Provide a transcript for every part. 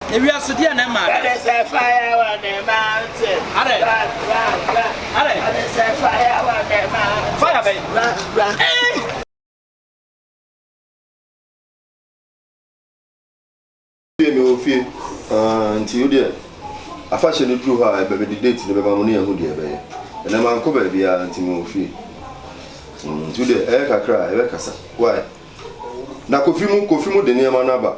Ewia so deɛ na ɛma ada. Ɔde sɛ fire wɔ ne mante. Adɛ. Bra bra bra. Adɛ. Ɔde sɛ fire wɔ ne mante. Fire bɛn. Bra bra. Hey. Fie mi wɔ fie. Ah, nti wo deɛ afahyɛ no duru hɔ a ɛbɛbɛdi date no bɛma mo ne yɛho deɛ ɛbɛyɛ. Ɛnɛ mankɔ baabiara nti mi wɔ fie. Mm, nti wo deɛ ɛyɛ kakra a ɛbɛkasa. Why? Na kofi mu kofi mu de nneɛma no aba.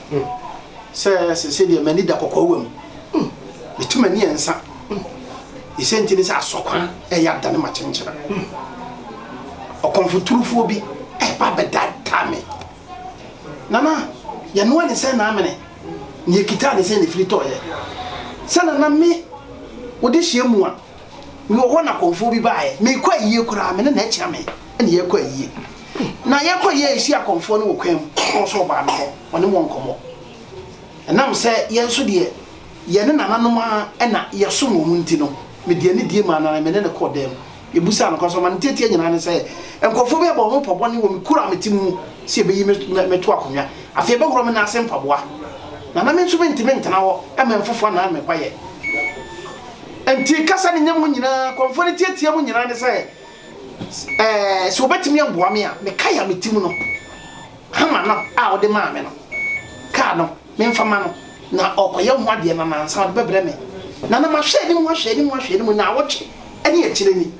Sɛ sese deɛ m'ani da kɔkɔɔ wɔ mu, metu m'ani ɛnsa. Ɛsɛ nti ne sɛ asɔkwan ɛyɛ adane ma kyenkyena. Ɔkɔmfoturufoɔ bi ɛba bɛdaadaa me. Nana, yɛnoa ne sɛ naamene, ne yɛkitaa ne sɛ ne firi tɔɔyɛ. Sɛ nana me wode hyɛ mu a, Mewɔ hɔ na kɔmfoɔ bi baeɛ. Merekɔ ayie koraa, me ne no akyia me na yɛrekɔ ayie. Na yɛrekɔ ayie a, yɛhyiaa kɔmfoɔ no wɔ kwan mu, na ɔso ɔbaa me hɔ, ɔne wɔn nkɔmmɔ. Ɛnam sɛ yɛn nso deɛ, yɛne nananom ara na yɛsom wɔn nti no, mede anidie maa no na me ne no kɔɔ dan mu. Yɛbisaa no kwan, so ɔma no nteateaa nyinaa ne sɛ, Nkurɔfoɔ bi abɔ me ho mpɔbɔne wɔ me kuro a mete mu sɛ yɛbɛyi me me to akonnwa. Afei yɛbɛhoro me nan ase mpaboa. Na na me nso mentumi ntena hɔ ma mfofoɔ annan me kwaeɛ. Enti kasa no nya mu nyinaa, kɔmfoɔ no teateaa mu nyinaa ne sɛ, Ɛɛ, sɛ wɔbɛtumi amboa me a, me kae a me ti mu no, hama no a wode maa me no, kaa no, memfa ma no na ɔrekɔyɛ ho adeɛ na nansa ɔde bɛbrɛ me. Na na mahwɛ anim, ahwɛ anim, ahwɛ anim, naawɔtwe ne akyire ni.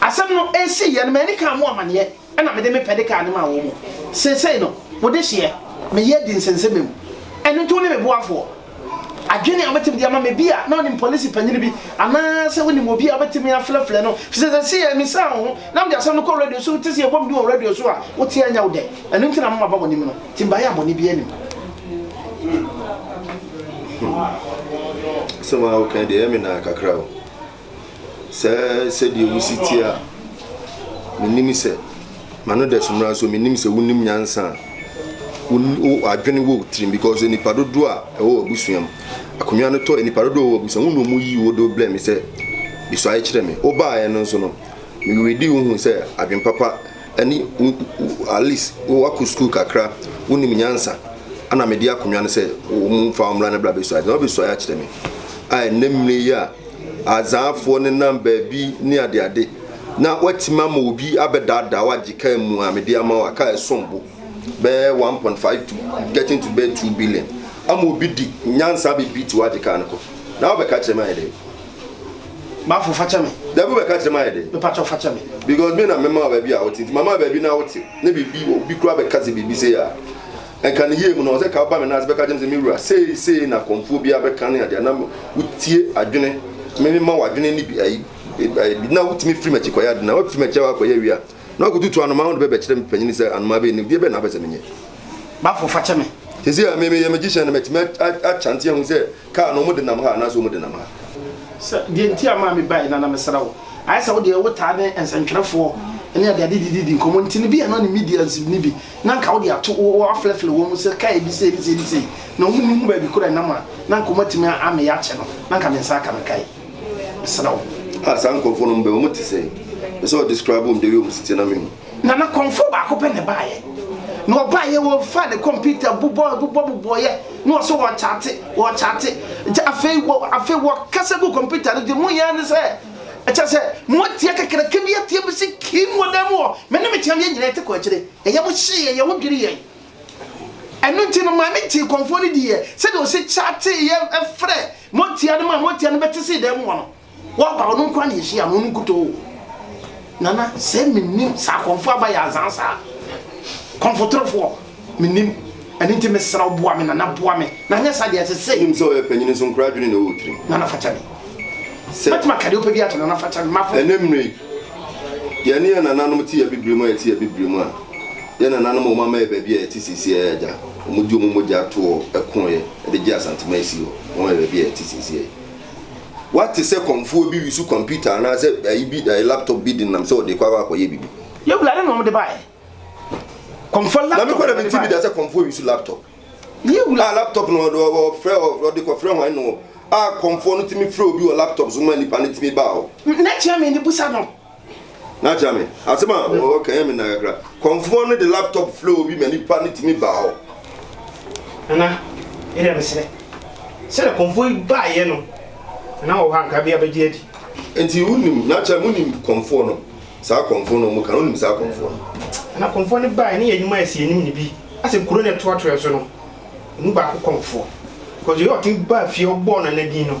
Asɛm no siiɛ no, m'ani kaa mo amaneɛ, ɛna mede me pɛ de kaa no maa wɔn. Seesei no, mo dehyeɛ, me yɛ di nsensɛmam. Ɛno nti wo ne me boafoɔ? Adwene a wobɛtumi de ama me bi a na wonim polisi panyini bi anaasɛ wonim obi a wobɛtumi afrɛfrɛ no fi sɛ sɛ sii a misaa wo ho na mede asɛm no kɔ radio so wote sɛ yɛbɔ me din wɔ radio so a wote a ɛnyɛ wo dɛ ɛno nti na mama ba w'anim no nti mbaeɛ a bɔne biara nim Hmm. Asɛm a woka deɛ ɛyɛ me naa kakra o. Sɛ sɛdeɛ wosi teɛ a, menim sɛ m'ano dɛ so mmra nso menim sɛ wonim nyansa a wo adwene wɔ tirim because nipa dodoɔ a ɛwɔ w'abusua mu akonnwa no tɔ nipa dodoɔ a ɛwɔ w'abusua mu na wɔn yi wo de brɛ me sɛ bisuae kyerɛ me wobaeɛ no nso no meredi wo hu sɛ adwene papa ɛne wo at least wakɔ sukuu kakra wonim nyansa ana mede akonnwa no sɛ wɔn mfa wɔn mmra no bra bisuae na wɔbisuae akyerɛ me a ɛnɛ mmiri yi a Azaafoɔ nenam baabi ne adeade, na woatumi ama obi abɛdaadaa wo agye kaa mu a mede ama wo a kaa ɛsom bo bɛyɛ 1.5 to getting to bɛyɛ 2 billion ama obi di nyansa abɛbi ti wo agye kaa no kɔ na wobɛka kyerɛ me ayɛ dɛ Bafo fa kyɛ me. Dabi wobɛka kyerɛ me ayɛ dɛ. Mepa kyɛw fa kyɛ me. Because me na mema wo baabi a wote nti mama baabi na wote na biribi obi kura bɛka sɛ biribi sei a Nka ne yie mu no, ɔsɛ ka woba me nan ase bɛka kyerɛ me sɛ, Me wura, sei sei na kɔmfoɔ biara bɛka ne adeɛ, na wotie adwene, meme ma w'adwene ne bi ayi, na wotumi firi m'akyi kɔyɛ ade, na woafiri m'akyi a woakɔyɛ awie a, na woakɔtutu anomaa ho de bɛbɛkyerɛ me panin sɛ, Anomaa bɛn ni? Deɛ bɛn na wopɛ sɛ menyɛ? Bafo, fa kyɛ me. Seesei a me meyɛ magician no, matumi akyante ahu sɛ Kaa no ɔmo denam ha anaasɛ ɔmo denam ha. Sɛ deɛ nti a maa me baeɛ no a na mesrɛ wo ayɛ sɛ wo deɛ wo taa ne nsɛntwerɛfoɔ ne ade ade didi di nkɔmmɔ nti no bi a na ɔne Midiansi no bi na nka wo deɛ ato wo wo aflɛflɛ wɔn mu sɛ kaa ebi sei ne sei ne sei na wɔn nni ho baabi koro a ɛnam a na nka wɔn atumi a ameyɛ akyɛ no na nka me nsa aka me kae mesrɛ wo. Ah saa nkurɔfoɔ nom bɛn? Wɔn te sɛn? Pɛ sɛ ɔ describe wɔn deɛ wei wɔn si teɛ na me hu. Na na kɔmfoɔ baako pɛ na ɛbaeɛ. Na ɔbaeɛ ɔfaa ne kɔmputa bobɔ bobɔ bobɔeɛ na ɔsɛ ɔrekyate ɔrekyate nti afei wɔ afei wɔkasa gu kɔmputa no de mu yɛn ne sɛ ɛkyɛ sɛ mo atia kakraka bi atia bi si kim wɔ dan mu hɔ me ne me kyɛm yɛn nyinaa te kɔ akyire ɛyɛ mo hyee yɛn yɛn ho dwiri yɛn ɛno nti no maame tee kɔmfoɔ no diiɛ sɛdeɛ ɔsi kyateeɛ ɛfrɛ mo atia no ma mo atia no bɛte sii dan mu hɔ no Wɔaba ɔno nkoa na yɛhyia no ɔno nkutoo. Nana sɛ mennim saa kɔmfo aba yɛ azaa saa. Kɔmfotorofoɔ mennim ɛno nti mesrɛ wo boa me Nana boa me na anyɛ saa deɛ ɛsɛ sɛ. Wonim sɛ ɔyɛ panyin nso nkoraa dwene na ɛwɔ tirim. Nana fakyɛ me. Sɛ. Mɛtumi aka deɛ wopɛ biara akyerɛ Nana fakyɛ me mafo. Ɛnnɛ mmerɛ yi yɛne yɛn nananom te Abibire mu a yɛte Abibire mu a yɛn nananom a wɔn ama yɛ baabi a yɛte seesei a agya wɔn de wɔn mogya toɔ koeɛ de gyee Asanteman sii hɔ wɔn ama yɛ baabi a yɛte seesei. Woate sɛ kɔmfoɔ bi resu kɔmputa anaasɛ ayi bi, ayi laptop bi denam sɛ ɔde kɔ akɔ akɔyɛ biribi? Yɛwura ne na wɔde baeɛ. Kɔmfoɔ laptop. Na me kɔ na me ti bi da sɛ kɔmfoɔ resu laptop. Yɛwura. A laptop no ɔde ɔfrɛ ɔde kɔfrɛ wɔn no a kɔmfoɔ no tumi frɛ obi wɔ laptop so ma nipa no tumi baa hɔ. N'akyia mi ne busa no. N'akyerɛ me asɛm a ɔka ɛyɛ me nna kakra. Kɔmfoɔ no de laptop frɛ obi ma nipa no tumi baa hɔ. Nana, yɛdeɛ mesrɛ, sɛdeɛ kɔmfoɔ yi baeɛ no, Nana wɔ hɔ a nka bia bɛgye adi. Nti wonim, n'akyerɛ me wonim kɔmfoɔ no, saa kɔmfoɔ no ɔmo ka no, wonim saa kɔmfoɔ no? Nana, kɔmfoɔ no baeɛ ne yɛ nnwuma a ɛsi yɛn anim no bi, asɛ kuro no a ɛtoatoɛ so no, emu baako kɔmfoɔ, because yei ɔtumi baa fie ɔbɔɔ Nana din no.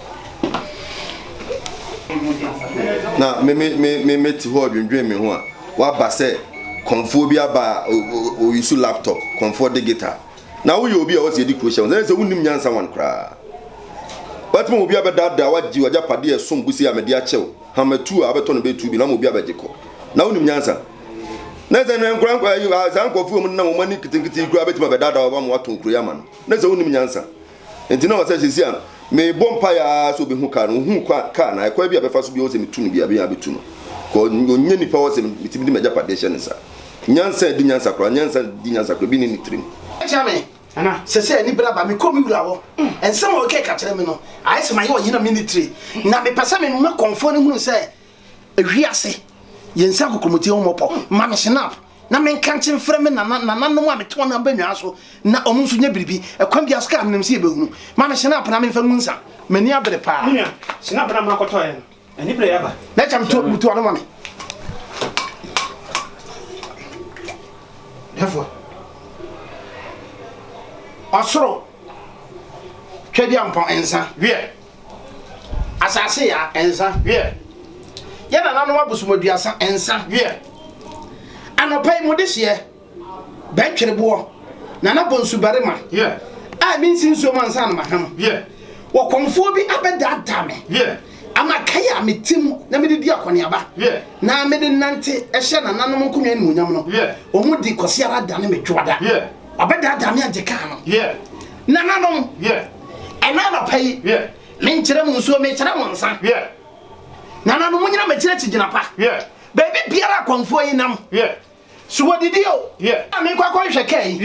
na me me me me me te hɔ dwendwen me ho a waba sɛ kɔnfoɔ bi aba a oyi so laptop kɔnfoɔ de guitar na woyɛ obi a wɔsi edi kuro hyɛ wɔn sɛ sɛ wonim nyansa wɔn koraa wɔtuma obi abɛdaadaa wagye wagya padeɛ ɛsom busi a mɛde akyɛw hamatu a abɛtɔ no bɛtu bi na ma obi abɛgye kɔ na wonim nyansa na sɛ na nkura nkura yi saa nkɔfoɔ mu nam wɔn ani nketenkete kura bɛtuma bɛdaadaa wɔn ama wɔatɔn kuro yi ama no na sɛ wonim nyansa. Enti na ɔwɔ sɛ seesei a mebɔ mpae ara sɛ obehu kar no, ohuu kar no, na ɛkwan bi a ɛbɛfa so bi a ɔwɔ sɛ mitu no biara, menya abetu no. Because ɔnyɛ nipa a ɔwɔ sɛ mitumi de m'agyapade hyɛ ne nsa. Nyansa a edi nyansa koraa, nyansa a edi nyansa koraa bi nni ne tirim. Ɛkyea me, na seesei anibere aba. Mekɔ me wura hɔ. Nsɛm a ɔreka yi ka kyerɛ me no, ayɛ sɛ mayɛ ɔyere a minni tire. Na mepɛ sɛ mema kɔmfoɔ no hunu sɛ wiase, yɛn nsa gu kommɔti ho mmɔpɔ. Ma me snap. Na menka nkye mfrɛ me nana, nananom a mete wɔn abannwaa so na wɔn nso nyɛ biribi. Ɛkwan biara so ka a menim sɛ yɛbɛhunu. Ma me hyena apena memfa ngu nsa. M'ani abere paa. Me nua, hyena apena a mma kɔtɔeɛ no, anibere reyɛ aba. Na kyɛ meto, butu ano ma me. Defoɔ. Ɔsoro. Twadiampɔn nsa, wiɛ. asase ya nsa wiɛ yɛ nananom abosomaduasa nsa wiɛ anɔpa yi mo de hyeɛ bɛntwere boɔ nana bonsu barima wiɛ a mi nsi nsuo ma nsa anoma ham wiɛ wɔkɔmfoɔ bi abɛdaadaa me wiɛ ama kae a me ti mu na mede di akɔneaba wiɛ na mede nante hyɛ nananom nkonnwa animuonyam no wiɛ wɔn di kɔsi ara da ne me dwoada wiɛ. ɔbɛdaadaa me agye kaa no nananom ɛna anɔpa yi menkyerɛ mu nsuo mekyerɛ mo nsa nananom mo nyina makyerɛ kyigyina pa baabi biara akɔmfoɔ yi nam so wɔdidi o a mekɔ akɔnhwɛ kaa yi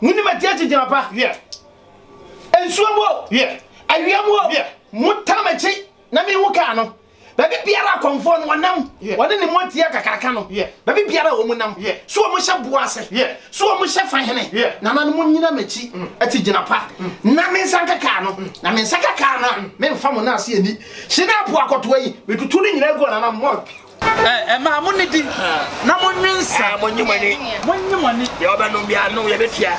mo ni matia kyigyina pa nsuo mu o awia mu o mo tam akyi Na mehu kaa no, baabi biara a kɔmfoɔ no wɔnam, wɔne ne mmɔnteɛ kakraka no, baabi biara a wɔnam, so wɔhyɛ boɔ ase, so wɔhyɛ fa hene, nananom nnyina m'akyi, te gyina pa, na me nsa nka kaa no, na me nsa ka kaa no a, meremfa mo nan ase ani. Hye no apoakɔtoa yi, metutu ne nyinaa gu ananam. Ɛmaa mo nidi na mo nwe nsa. Mo nyi mo ani. Mo nyi mo ani. Deɛ ɔbɛnom bi ano yɛ bɛ fia.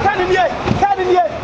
Kani nie, kani nie.